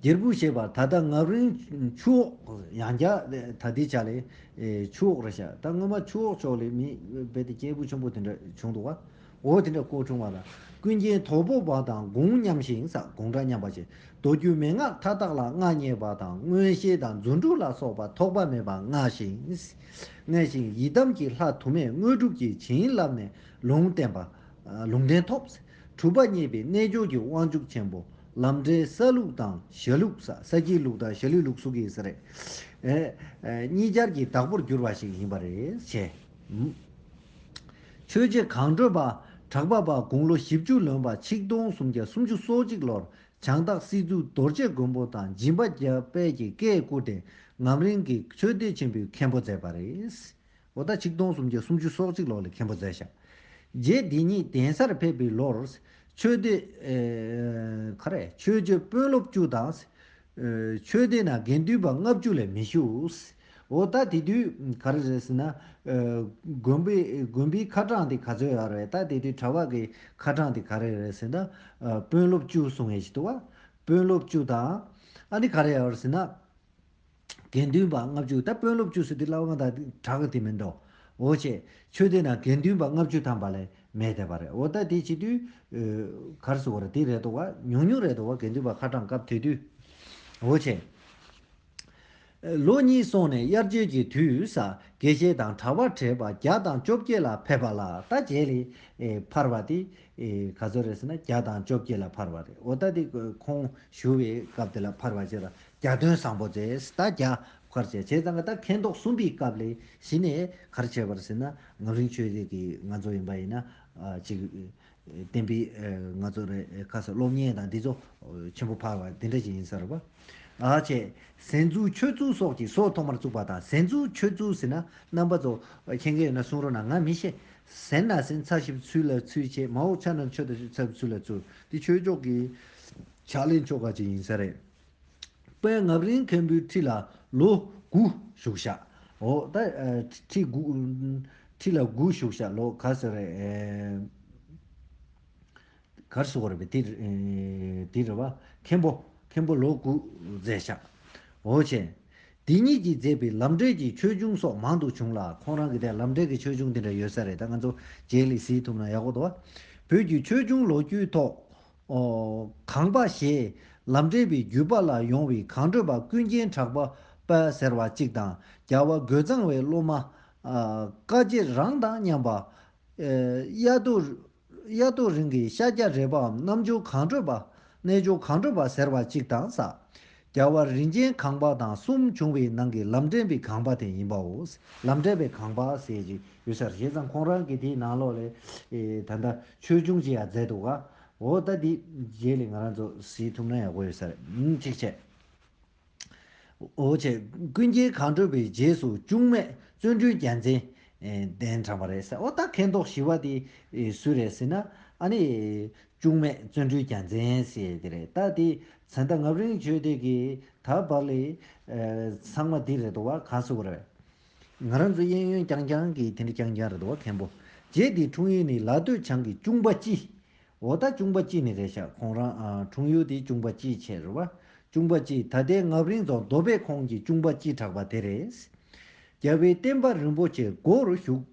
Speaker 1: སྒྱེར་བུ་ཞེས་པ་ད་ལྟ་ངག་རིང་ཆུ་འོག་ཡང་བརྒྱ། ད་ལྟའི་ཆ་ལས། ཆུ་འོག་རེད་བྱ། ད་སྔོན་མ་ཆུ་འོག་ཕྱོགས་ལས་མི། རྦད་དེ་སྐྱེས་བུ་ཆུང་པོ་དེ་འདྲ་བྱུང་འདུག་བ། འོ་དེ་འདྲ་ཀོ་བྱུང་བ་ལ། ཀུན་མཁྱེན་དོལ་པོ་བ་དང་དགུང་མཉམ་ཞིང་ས་དགོངས་འདྲ་མཉམ་པ་བྱེད། མདོ་རྒྱུད་མན་ངག་མཐའ་དག་ལ་མངའ་བརྙེས་པ་དང་མངོན་ཤེས་དང་རྫུ་འཕྲུལ་ལ་སོགས་པ་ཐོགས་པ་མེད་པ་མངའ་ཞིང། མངལ་ཞིང་ཡི་དམ་གྱི་ལྷ་དུ་མས་དངོས་གྲུབ་ཀྱི་བྱིན་བརླབས་ནས་ལུང་བསྟན་པ། ལུང་བསྟན་ཐོབ། གྲུབ་པ་བརྙེས་པའི་རྣལ་འབྱོར་གྱི་དབང་ཕྱུག་ཆེན་པོ། ལམ་འབྲས་ས་ལུགས་དང་ཞྭ་ལུགས། ས་སྐྱའི་ལུགས་དང་ཞྭ་ལུའི་ལུགས་སུ་གྱིས་ཟེར། གཉིས་སྦྱར་གྱི་བདག་པོར་གྱུར་པ་ཞིག་ཡིན་པ་རེད་བྱས། ཆོས་རྗེ་གངས་སྒྲོལ་པ་གྲགས་པ་པ་དགུང་ལོ་བཞི་བཅུ་ལོན་པ་ཆིག་སྟོང་སུམ་བརྒྱ་སུམ་ཅུ་སོ་གཅིག་ལོར་བྱང་སྟག་སྲིད་ཙུག་རྡོ་རྗེ་མགོན་པོ་དང་སྦྱིན་པ་རྒྱ་དཔལ་གྱི་བཀས་བཀུར་ཏེ་ངམ་རིང་གི་ཆོས་སྡེ་ཆེན་པོའི་མཁན་པོ་མཛད་པ་རེད། བོ་ད་ཆིག་སྟོང་སུམ་བརྒྱ་སུམ་ཅུ་སོག་གཅིག་ལོག་ལས་མཁན་པོ་མཛད་ཤག། རྗེ་འདི་ཉིད་གདན་སར་ཕེབས་པའི་ལོར། ཆོས་སྡེ། ག་རེ། ཆོས་སྤྱོད་དཔོན་སློབ་བཅུ་དང། ཆོས་སྡེ་ན་དགེ་འདུན་པ་ལྔ་བཅུ་ལས་མི་བཞུགས། བོ་ད་དེ་དུས་ག་རེ་རེད་ཟེར་ན། དགོན་པའི་དགོན་པའི་ཁ་གྲངས་དེ་ག་ཚོད་ཡོད་རེད་ད་དེ་དུས་གྲྭ་བ་གི་ཁ་གྲངས་དེ་ག་རེ་རེད་ཟེར་ན། དཔོན་སློབ་བཅུ་གསུང་ཡས་ཤིག་འདུག་བ། དཔོན་སློབ་བཅུ་དང། ཨ་ནི་ག་རེ་ཡོད་རེད་ཟེར་ན། དགེ་འདུན་པ་ལྔ་བཅུ་ད་དཔོན་སློབ་བཅུ་སུ་དེ་སླ་བ་དང་གྲགས་དེ་མིན་ཏོ། འོ་ཅེས། ཆོས་སྡེ་ན་དགེ་འདུན་པ་ལྔ་བཅུ་ཐམ་པ་ལས་མེད་དད་པ་རེད་འོ་ད་དེ་བྱེད་དུས། གར་སུ་བར་དེ་རེད་དོ་བ་ཉུང་ཉུང་རེད་དོ་བ་དགེ་འདུན་པ་ཁ་གྲངས་སྐབས་དེ་དུས། འོ་ཅེས། ལོ་གཉིས་སོང་ནས་དབྱར་བརྗོད་ཀྱི་དུས་ས་དགེ་བཤེས་དང་གྲྭ་བ་བགྲེས་པ་བརྒྱ་དང་བཅོ་བརྒྱད་ལ་ཕེབས་པ་ལ་ད་རྗེས་ལས་འཕར་བ་དེ། ག་ཚོད་རེད་ཟེར་ན་བརྒྱ་དང་བཅོ་བརྒྱད་ལ་འཕར་བ་རེད་འོ་ད་དེ་ཁོང་ཞུ་བའི་སྐབས་དེ་ལ་འཕར་བ་བྱས་ལ་རྒྱ་སྟོན་བཟང་པོ་ཛསྟ་རྒྱ་བཀར་བྱས་བྱས་ཙང་ང་ད་མཁས་མདོག་གསུམ་པའི་སྐབས་ལས་གཞི་ནས་གར་བྱས་པར་ཟེར་ན་ངག་རིང་ཆོས་རིག་གི་ང་ཚོ་ཡིན་པ་ཡིན་ན་ཅིག་བསྟན་པའི་ང་ཚོ་རེ་ཁ་ས་སློབ་གཉེར་དང་འདི་ཚོ་ཆེན་པོ་འཕར་བ་དེ་འདྲ་ཞིག་ཡིན་ས་རེད་བ། ཨ་ཅེ། ཟན་ཆུ་ཆོས་ཚུལ་སོགས་ཀྱི་སྲོག་ཐོག་མར་བཙུགས་པ་དང་ཟན་ཆུ་ཆོས་ཚུལ་ཟེར་ན་རྣམ་པ་ཚོ་མཁྱེན་མཁན་ཡོད་ན་གསུང་རོགས་གནང་ང་མི་ཤེས། ཟན་ན་ཟན་ཚགས་ཞིབ་ཚུལ་ལ་ཚུལ་བྱས་མ་འོག་ཆ་ན་ཆོས་ད་ཆོས་ཚགས་ཞིབ་ཚུལ་ལ་ཚུལ་འདི་ཆོས་ཕྱོགས་ཀྱི་ཕྱག་ལེན་ཕྱོགས་ཁག་ཅིག་ཡིན་ས་རེད། པདྨ་རིན་མཁན་པོའི་ཁྲི་ལ་ལོ་དགུ་བཞུགས་ཤག་འོ། ཁྲི་ཁྲི་ལ་དགུ་བཞུགས་ཤག་ལོ་ག་ཟེར་རེད། གར་སོ་རེད་པས་དེ་རེད་བ། མཁན་པོ་མཁན་པོ་ལོ་དགུ་མཛད་ཤག་འོ་བྱས། དེ་གཉིས་ཀྱིས་མཛད་པའི་ལམ་འབྲས་ཀྱི་ཆོས་འབྱུང་སོགས་མང་དུ་བྱུང་ལ་ཁོང་རང་གི་ལམ་འབྲས་ཀྱི་ཆོས་འབྱུང་དེ་འདྲ་ཡོད་ས་རེད་ད་ང་ཚོ་རྗེའི་ལས་གཟིགས་ཐུབ་ན་ཡག་པོ་འདུག་བ། བོད་ཀྱི་ཆོས་འབྱུང་ལོ་རྒྱུས་ཐོག་གང་པ་ཞེས་ལམ་འབྲས་བུའི་བརྒྱུད་པ་ལ་ཡོང་བའི་གང་འཕྲོད་པ་ཀུན་མཁྱེན་གྲགས་པ་དཔལ་ཟེར་བ་གཅིག་དང་རྒྱ་བ་རྒོད་གཙང་བའི་སློབ་མ། བཀའ་རྗེ་རང་དང་མཉམ་པ། གཡའ་རྡོ་རིང་གི་ཤཱཀྱ་རས་པའམ་རྣམ་འབྱོར་གང་འཕྲོད་པ། རྣལ་འབྱོར་གང་འཕྲོད་པ་ཟེར་བ་གཅིག་དང་ས་རྒྱལ་བ་རིན་ཆེན་ཁང་པ་དང་གསུམ་བྱུང་བའི་ནང་གི་ལམ་འདྲེན་པའི་ཁང་པ་དེ་ཡིན་པའོ། ལམ་འདྲེན་པའི་ཁང་པ་ཟེར་གྱི་ཡོད་ས་རེད་བྱས་ཙང་ཁོང་རང་གིས་དེའི་ནང་ལོགས་ལས་ད་ལྟ་ཆོས་འབྱུང་ཅི་ཡང་མཛད་འདུག་ག་འོ་ད་དེའི་རྗེས་ལས་ང་རང་ཚོ་གཟིགས་ཐུབ་ན་ཡག་པོ་ཡོད་ས་རེད་གཅིག་བྱས། འོ་བྱས་ཀུན་མཁྱེན་གང་བགྲོས་པའི་རྗེས་སུ་ཅུང་མེད་བརྩོན་འགྲུས་རྒྱལ་མཚན་གདན་དྲངས་པ་རེད་ཟེར་འོ་ད་མཁས་མདོག་ཞི་བ་དེ་སུ་རེད་ཟེར་ན་ཨ་ནི་ཅུང་མེད་བརྩོན་འགྲུས་ཀྱང་འཛིན་ཞེས་དེ་རེད་ད་དེ་ཚེ་ད་ངབ་རིང་བྱོས་དེ་གི་ད་བར་ལས། ཚང་མ་དེ་རེད་དོ་བ་ག་སུ་རེད། ང་རང་ཚོ་གཡས་གཡོན་རྐྱང་རྐྱང་གི་དེ་འདྲ་རྐྱང་རྐྱང་རེད་དོ་བ་མཁན་པོ་རྗེ་དེ་འཁྲུངས་ཡུལ་ནི་ལ་སྟོད་བྱང་གི་ཅུང་པ་སྐྱིད། འོ་ད་ཅུང་པ་སྐྱིད་ནི་རེད་ཤག་ཁོང་རང་འཁྲུངས་ཡུལ་དེ་ཅུང་པ་སྐྱིད་ཆེ་རེད་བ། ཅུང་པ་སྐྱིད་ད་ལྟའི་ངབ་རིང་རྫོང་རྡོ་སྦས་ཁོངས་ཀྱི་ཅུང་པ་སྐྱིད་གྲགས་པ་དེ་རེད། རྒྱལ་བའི་བསྟན་པ་རིན་པོ་ཆེའི་སྒོ་རུ་ཞུགས།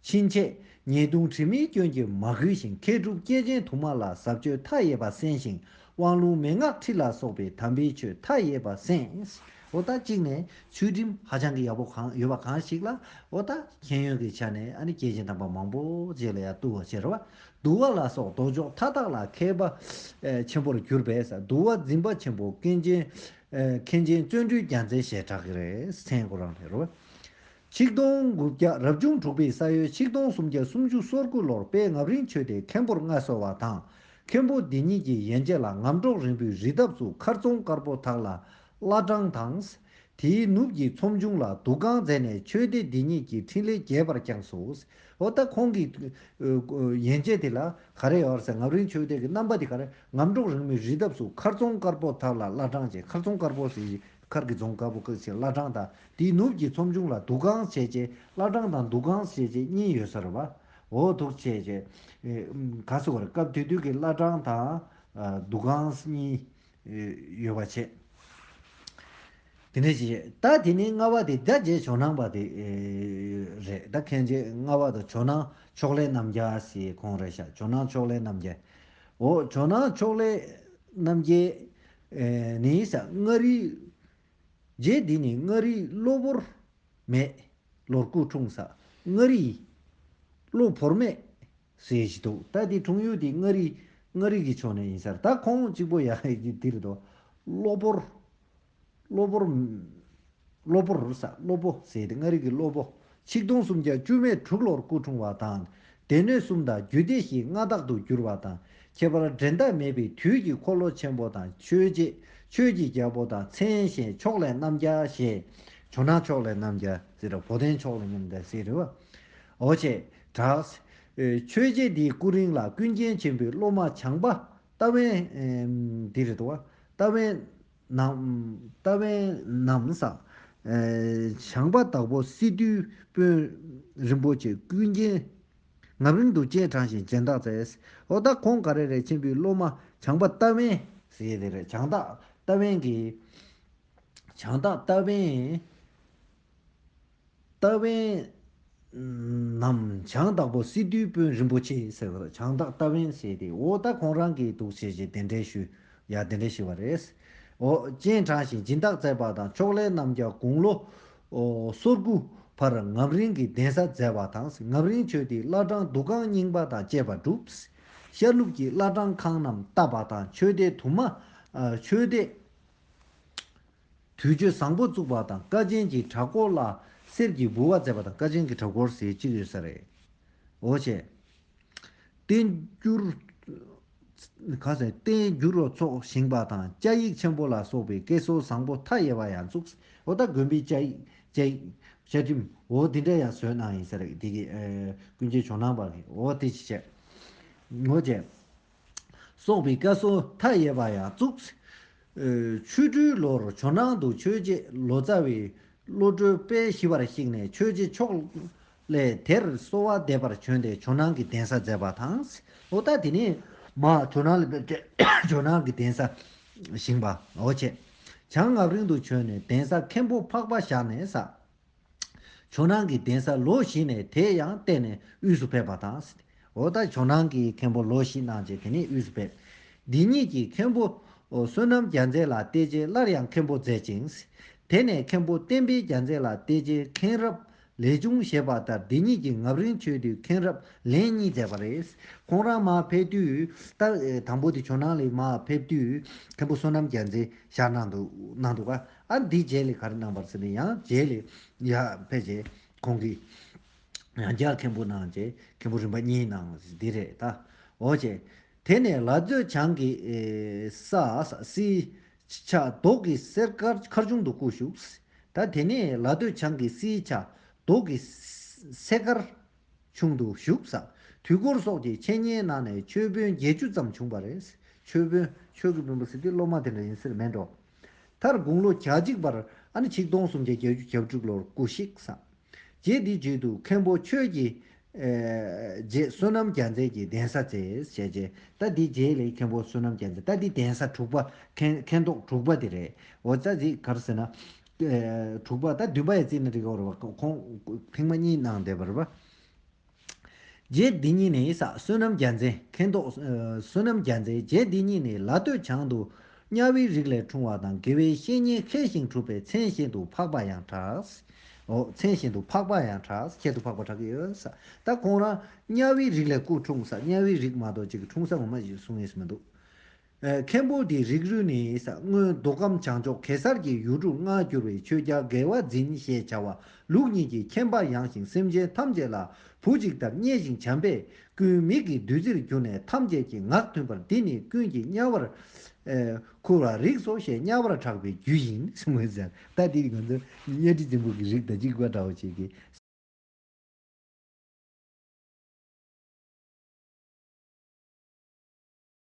Speaker 1: ཕྱིན་ཆད་ཉེས་ལྟུང་དྲི་མའི་སྐྱོན་གྱིས་མ་གོས་ཤིང་མཁས་གྲུབ་སྐྱེས་ཆེན་དུ་མ་ལ་ཟབ་ཆོས་མཐའ་ཡས་པ་གསན་ཞིང་དབང་ལུང་མན་ངག་ཁྲིད་ལ་སོགས་པའི་དམ་པའི་ཆོས་མཐའ་ཡས་པ་གསན། འོ་ད་གཅིག་ནས་ཚུལ་ཁྲིམས་ཧ་ཅང་གི་ཡག་པོ་གང་ཡོད་པ་གང་ཞིག་ལ་འོ་ད་མཁྱེན་ཡོན་གྱི་ཆ་ནས་ཨ་ནི་སྐྱེས་ཆེན་དམ་པ་མང་པོ་རྗེས་ལ་ཡང་བཏུ་བ་ཕྱིར་བ་བསྡུ་བ་ལ་སོགས་ལྡོག་ཕྱོགས་མཐའ་དག་ལ་མཁས་པ་ཆེན་པོར་གྱུར་པས་བསྡུ་བ་འཛིན་པ་ཆེན་པོ་མཁན་ཆེན་མཁན་ཆེན་བརྩོན་འགྲུས་རྒྱ་མཚན་ཞེས་གྲགས་ཀྱི་རེད་སེང་གོ་རང་ལྷས་རུ། ཆིག་སྟོང་དགུ་བརྒྱ་རབ་བྱུང་དྲུག་པའི་ས་ཡོལ་ཆིག་སྟོང་སུམ་བརྒྱ་སུམ་ཅུ་སོར་དགུ་ལོར་པད་ངབ་རིང་ཆོས་སྡེའི་མཁན་པོར་མངའ་གསོལ་བ་དང་མཁན་པོ་འདི་ཉིད་ཀྱི་ཡན་ཆད་ལ་ངམ་གྲོག་རིང་པོའི་རི་འདབས་སུ་མཁར་རྫོང་དཀར་པོ་དག་ལ་བླ་བྲང་དང། དེའི་ནུབ་ཀྱི་ཚོམས་ཆུང་ལ་འདུ་ཁང་མཛད་ནས་ཆོས་སྡེ་འདི་ཉིད་ཀྱི་འཕྲིན་ལས་རྒྱས་པར་བསྐྱངས་སོ། འོ་ད་ཁོང་གི་ཡན་ཆད་དེ་ལ་ག་རེ་ཡོད་ཟེར་ངམ་རིང་ཆོས་སྡེ་གི་རྣམ་པ་དེ་ག་རེ་ངམ་འབྲོག་རིང་མི་རི་འདབས་སུ་མཁར་རྫོང་དཀར་པོ་དག་ལ་བླ་བྲང་བྱས་མཁར་རྫོང་དཀར་པོ་ཟེར་བཞིན་མཁར་གྱི་རྫོང་དཀར་པོ་བཀག་ཕྱིར་བླ་བྲང་དང་དེའི་ནུབ་ཀྱི་ཚོམ་ཆུང་ལ་འདུག་ཁང་བྱས་རྗེས་བླ་བྲང་དང་འདུག་ཁང་བྱས་རྗེས་གཉིས་ཡོད་ས་རེད་བ། འོ་དུག་བྱས་རྗེས་ག་སེ་བ་རེད་སྐབས་དེ་དུས་ཀྱི་བླ་བྲང་དང་འདུག་ཁང་གཉིས། ཡོད་པར་བྱེད། དེ་ནས་ཀྱི། ད་དེ་ནས་ལྔ་བ་དེ་རྒྱ་རྗེས་ཇོ་ནང་པ་དེ་རེད་ད་མཁན་རྗེ་ལྔ་བ་དང་ཇོ་ནང་ཕྱོགས་ལས་རྣམ་རྒྱལ་སི་ཁོང་རེད་ཤག་ཇོ་ནང་ཕྱོགས་ལས་རྣམ་རྒྱལ། འོ་ཇོ་ནང་ཕྱོགས་ལས་རྣམ་རྒྱལ། ནི་ས་མངའ་རིས། རྗེ་འདི་ནི་མངའ་རིས་གློ་བོར། མེད། ལོར་སྐུ་འཁྲུངས་ས་མངའ་རིས། གློ་བོར་མེད། ཟེར་གྱི་འདུག་ད་དེ་དྲུང་ཡུལ་དེ་མངའ་རིས་མངའ་རིས་ཀྱི་ཕྱོགས་ནས་ཡིན་སར་ད་ཁོང་གཅིག་པོ་ཡག་ཡག་གི་དིར་དོ། གློ་བོར། གློ་བོར། གློ་བོར་ཟ་གློ་བོ་ཟེར་དེ་མངའ་རིས་ཀྱི་གློ་བོ། ཆིག་སྟོང་སུམ་བརྒྱ་བཅུ་མེད་དྲུག་ལོར་སྐུ་འཁྲུངས་བ་དང། སྡེ་སྣོད་གསུམ་དང་རྒྱུད་སྡེ་བཞི་མངའ་བདག་ཏུ་གྱུར་བ་དང་ཁྱད་པར་འགྲན་ཟླ་མེད་པའི་དུས་ཀྱི་འཁོར་ལོ་ཆེན་པོ་དང་ཆོས་རྗེ་ཆོས་ཀྱི་རྒྱལ་པོ་དང་མཚན་གཞན་ཕྱོགས་ལས་རྣམ་རྒྱལ་ཞེས། ཇོ་ནང་ཕྱོགས་ལས་རྣམ་རྒྱལ་ཟེར་བོ་དན་ཕྱོགས་ལས་རྣམ་རྒྱལ་ཟེར། འོ་ཆེ། གྲགས། ཆོས་རྗེ་འདིའི་སྐུ་རིང་ལ་ཀུན་མཁྱེན་ཆེན་པོའི་སློབ་མ་བྱང་པ་རྟ་བན། འདི་རེད་དོ། རྟ་བན། རྟ་བན་ནམ་སང། བྱང་པ་དྭགས་པོ་སི་ཏུའི་དཔོན། རིན་པོ་ཆེ་ཀུན་མཁྱེན། ངམ་རིང་དུ་སྤྱན་དྲངས་ཤིང་སྦྱན་བདག་མཛད། འོ་ད་ཁོང་ག་རེ་རེད་ཆེན་པོའི་སློབ་མ་བྱང་པ་རྟ་བན། ཟེར་དེ་རེད་བྱང་བདག་རྟ་བན་གྱིས། བྱང་བདག་རྟ་བན། རྟ་བན། ནམ་བྱང་བདག་པོ་སི་ཏུའི་དཔོན་རིན་པོ་ཆེ་ཟེར་བ་དང་བྱང་བདག་རྟ་བན་བྱས་ཏེ་འོ་ད་ཁོང་རང་གིས་འདུག་བྱས་རྗེས་གདན་འདྲེན་ཞུ། ཡང་གདན་འདྲེན་ཞུས་པ་རེད། འོ། སྤྱན་དྲངས་ཤིང་སྦྱིན་བདག་མཛད་པ་དང་ཕྱོགས་ལས་རྣམ་རྒྱལ་དགུང་ལོ། སོ་དགུ། བར་ངམ་རིང་གི་གདན་ས་མཛད་པ་དང་ངམ་རིང་ཆོས་ཏེ་བླ་བྲང་འདུ་ཁང་རྙིང་པ་དང་བཅས་པ་བསྒྲུབས། ཤར་ལུགས་ཀྱི་བླ་བྲང་ཁང་རྣམས་བཏབ་པ་དང་ཆོས་སྡེ་དུ་མ། ཆོས་སྡེ། དུས་མཆོད་བཟང་པོ་བཙུགས་པ་དང་ཀ་ཆེན་གྱི་བྲག་སྐོར་ལ་གསེར་གྱི་ལྦུ་བ་མཛད་པ་དང་ཀ་ཆེན་གྱི་བྲག་སྐོར་ཟེར་གཅིག་ཡོད་ས་རེད། འོ་ཆེ། བསྟན་འགྱུར། ག་ཟེར། བསྟན་འགྱུར་རོ་ཚོགས་བཞེངས་པ་དང་བཅའ་ཡིག་ཆེན་པོ་ལ་སོགས་པའི་སྐད་སྲོལ་བཟང་པོ་མཐའ་ཡས་པ་ཡང་བཙུགས། འོ་ད་དགོན་པའི་བཅའ་ཡིག། བཅའ་ཡིག། བཅའ་ཁྲིམས། འོ་དེ་འདྲ་ཡང་བཟོས་གནང་ཡིན་ས་རེད། དེ་གི། ཀུན་མཁྱེན་ཇོ་ནང་པ་གི། འོ་དེ་ཅི་བྱས། འོ་ཆེ། སོགས་པའི་བཀའ་སྲོལ་མཐའ་ཡས་པ་ཡང་བཙུགས། ཆུ་སྦྲུལ་ལོར་ཇོ་ནང་དུ་ཆོས་རྗེ་ལོ་ཙཱ་བའི་བློ་གྲོས་དཔལ་ཞི་བར་གཤེགས་ནས་ཆོས་རྗེ་མཆོག་ལས་དེར་གསོལ་བ་འདེབས་པར་བྱོན་ཏེ་ཇོ་ནང་གི་གདན་ས་མཛད་པ་དང། ལོ་ཙཱ་དེ་ནས་མ་ཇོ་ནང་ལས་བསྐྱལ་ཏེ་ཇོ་ནང་གི་གདན་ས་བཞེངས་པའོ། བྱང་ངག་རིང་དུ་བྱོན་ནས་གདན་ས་མཁན་པོ་འཕགས་པ་བཞག་ནས་བསགས། ཇོ་ནང་གི་གདན་ས་ལོ་བཞི་ནས་དེ་ཡང་བསྟན་ནས་དབུས་སུ་ཕེབས་པ་དང། འོ་ད་ཇོ་ནང་གི་མཁན་པོ་ལོ་བཞི་གནང་རྗེས་དེ་ནས་དབུས་སུ་ཕེབས། འདི་ཉིད་ཀྱི་མཁན་པོ། བསོད་ནམས་རྒྱ་མཚན་ལ་བལྟས་རྗེས་སླར་ཡང་མཁན་པོ་མཛད་ཅིང། དེ་ནས་མཁན་པོ་བསྟན་འཕེལ་རྒྱ་མཚན་ལ་བལྟས་རྗེས་མཁན་རབས་ལས་ཅུང་ཞེས་པ་ལྟར་འདི་ཉིད་ཀྱི་ངབ་རིང་ཆོས་དུས་མཁན་རབས་ལན་གཉིས་མཛད་པ་རེད། ཁོང་རང་མར་ཕེབས་དུས་ལྟར་དང་པོ་དེ་ཇོ་ནང་ལས་མར་ཕེབས་དུས་མཁན་པོ་བསོད་ནམས་རྒྱ་མཚན་ཞར་གནང་འདུག་གནང་འདུག་ག། ཨ་འདིས་རྗེས་ལས་གར་གནང་བར་ཟེར་ནས་ཡང་རྗེས་ལས་ཡར་ཕེབས་རྗེས་ཁོང་གིས། ཡང་བསྐྱར་མཁན་པོ་གནང་རྗེས་མཁན་པོ་རིམ་པ་གཉིས་གནང་བ་འདི་རེད་ད། འོ་ཅེས། དེ་ནས་ལ་སྟོད་བྱང་གི། ས་སིའི། ཆ་རྡོག་གི་གསེར་དཀར་མཁར་ཆུང་དུ་སྐུ་བཞུགས། ད་དེ་ནས་ལ་སྟོད་བྱང་གི་སིའི་ཆ་རྡོག་གི། གསེར་དཀར། ཆུང་དུ་བཞུགས། དུས་འཁོར་སོགས་ཀྱི་འཆད་ཉན་གནང་ནས་ཆོས་དཔོན་བརྒྱད་ཅུ་ཙམ་བྱུང་བ་རེད། ཆོས་དཔོན། ཆོས་ཀྱི་དཔོན་པོ་ཟེར་དུས་སློབ་མ་དེ་འདྲ་ཡིན་སེར་མེད་འགྲོ། མཐར་དགུང་ལོ་གྱ་གཅིག་པར། ཨ་ནི་ཆིག་སྟོང་སུམ་བརྒྱ་གྱ་བཅུ་གྱ་དྲུག་ལོར་སྐུ་གཤེགས། རྗེ་འདིའི་རྗེས་དུ་མཁན་པོ་ཆོས་ཀྱི། རྗེས་བསོད་ནམས་རྒྱ་མཚན་གྱི་གདན་ས་བཙལ། ཞལ་རྗེ། རྟ་འདིའི་རྗེས་ལས་མཁན་པོ་བསོད་ནམས་རྒྱ་མཚན་རྟ་འདིའི་གདན་ས་དྲུག་པ། མཁན་ཐོག་དྲུག་པ་དེ་རེད། འོ་ཙཱ་ཛི་གར་ཟེར་ན། དྲུག་པ། ད་བདུན་པ་ཡི་རྩིས་ནི་རིག་བར་བ། ཁོང་ཕིང་མ་གཉིས་གནང་བདེ་བར་བ། རྗེ་འདི་ཉིད་ནི་ས་བསོད་ནམས་རྒྱ་མཚན་མཁན་ཐོག་བསོད་ནམས་རྒྱ་མཚན་རྗེ་འདི་ཉིད་ནི་ལ་སྟོད་བྱང་དུ་གཉའ་བའི་རིགས་ལས་འཁྲུངས་བ་དང་དགེ་བའི་བཤེས་གཉེན་མཁས་ཤིང་གྲུབ་པའི་མཚན་བཞིན་དུ་འཕགས་པ་ཡང་གྲགས། མཚན་བཞིན་དུ་འཕགས་པ་ཡང་གྲགས། ཁྱད་དུ་འཕགས་པ་གྲགས་ཡོད་ས། ད་ཁོང་རང་གཉའ་བའི་རིགས་ལས་སྐུ་འཁྲུངས་ས་གཉའ་བའི་རིགས་མ་གཏོགས་གཅིག་གི་འཁྲུངས་ས་ངོ་མ་གསུང་ངེས་སུ་མི་འདུག། མཁན་པོ་དེའི་རིགས་རུས་ནི་སྔོན་མདོ་ཁམས་བྱང་ཕྱོགས་གེ་སར་གྱི་ཡུལ་གྲུ་ལྔར་གྱུར་བའི་ཆོས་རྒྱལ་དགེ་བ་འཛིན་ཞེས་བྱ་བ་ལུགས་གཉིས་ཀྱི་མཁྱེན་པ་ཡངས་ཤིང་སེམས་ཅན་ཐམས་ཅད་ལ་བུ་གཅིག་ལྟར་མཉེས་ཤིང་བྱམས་པས་ཀུན་མིག་གི་བདུད་རྩིར་གྱུར་ནས་ཐམས་ཅད་ཀྱི་ངག་མཐུན་པར་འདི་ནི་ཀུན་གྱི་དམྱལ་བར་འཁུར་བར་རིགས་སོ་ཞེས་དམྱལ་བར་གྲགས་པའི་རྒྱུ་ཡིན།